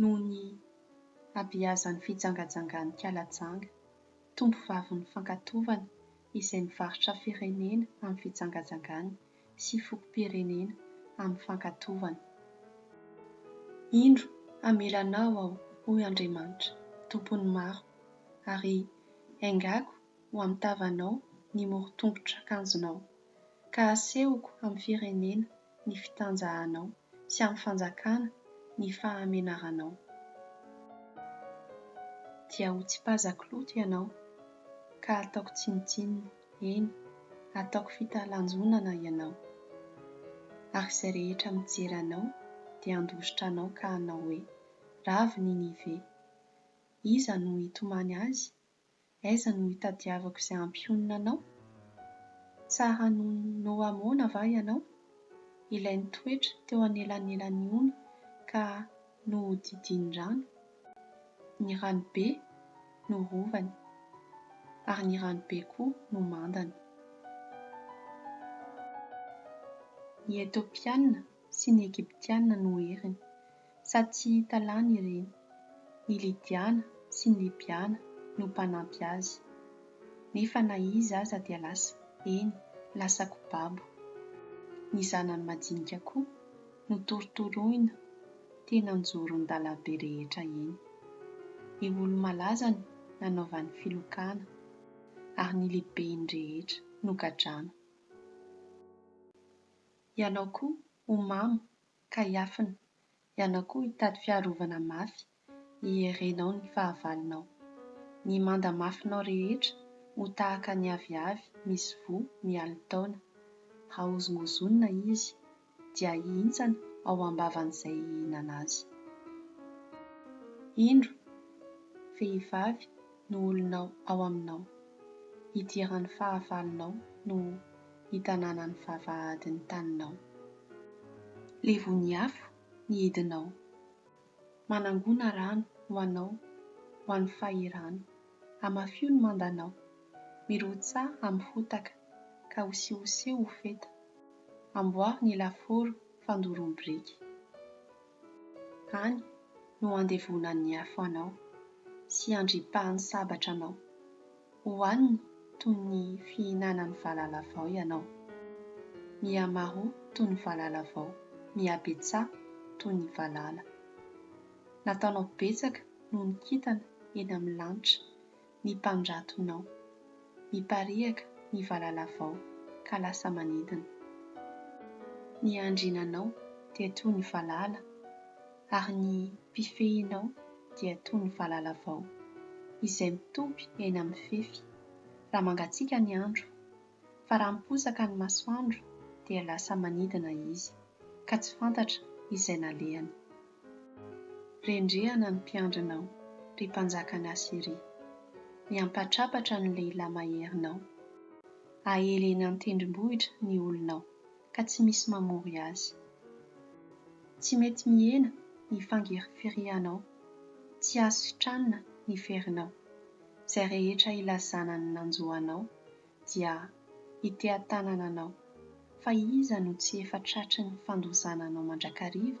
noho ny habeazan'ny fijangajangan'ny kalajanga, tombovavin'ny fankatovana izay mivarotra firenena amin'ny fijangajangany sy fokom-pirenena amin'ny fankatovana. Indro hamela anao aho, hoy Andriamanitra, Tompon'ny maro, ary haingako ho amin'ny tavanao ny moron-tongotr'akanjonao, ka hasehoko amin'ny firenena ny fitanjahanao sy amin'ny fanjakana ny fahamenaranao. Dia hotsipazako loto ianao ka hataoko tsinontsinona, eny, hataoko fitalanjonana ianao. Ary izay rehetra mijery anao dia handositra anao ka hanao hoe, Ravo Ninive! Iza no hitomany azy Aiza no itadiavako izay hampionona anao? Tsara noho Noa moana va ianao, ilay nitoetra teo anelanelan'ny ony ka nohodidian'ny rano? Ny ranobe no rovany, ary ny ranobe koa no mandany. Ny Etiopianina sy ny Egyptianina no heriny. Sa tsy hita lany ireny? Ny Lydiana sy ny Libyana no mpanampy azy. Nefa na iza aza dia lasa, eny, lasa kobabo. Ny zanany majinika koa no torotoroina teny an-joron-dalam-be rehetra eny. Ny olo-malaza no nanaovany filokana, ary ny lehibeny rehetra nogadrana. Ianao koa, ho mamo, ka hiafina, ianao koa hitady fiarovana mafy hiherenao ny fahavalonao. Ny manda mafinao rehetra ho tahaka ny aviavy misy voa mialy taona. Hahozongozonina izy, dia hihintsana ao am-bavan'izay hihinana azy. Indro, vehivavy no olonao ao aminao, idiran'ny fahavalonao no. ny tanànan'ny vavahadin'ny taninao. Levon'ny afo ny hidinao, manangona rano ho anao ho an'ny fahirano, hamafio ny mandanao, mirotsaha amin'ny fotaka ka hosihoseho ho feta, amboaro ny lafaoro fandorom-biriky. Any no andevonan'ny afo anao, sy andripahan'ny sabatra anao. Hohaniny toy ny fihinanan'ny valala vao ianao. Mihamaro toy ny valala vao, mihabetsaha toy ny valala. Nataonao betsaka noho ny kintana eny amin'ny lanitra, ny mpandratonao. Mipariaka ny valalavao ka lasa manidina. Ny andriananao dia toy ny valala, ary ny mpifehinao dia toy ny valalavao, izay mitopy eny amin'ny fefy, raha mangatsiaka ny andro fa raha miposaka ny masoandro dia lasa manidina izy ka tsy fantatra izay nalehany. Rendrehana ny mpiandrinao, ry mpanjakan'i Asyria, miampatrapatra ny lehilahy maherinao. Aely eny an-tendrombohitra ny olonao ka tsy misy mamory azy. Tsy mety mihena ny fangirifirianao, tsy azo sitranina ny ferinao. Izay rehetra ilazana ny nanjo anao dia hiteha-tanana anao, fa iza no tsy efa tratry ny fandozana anao mandrakariva?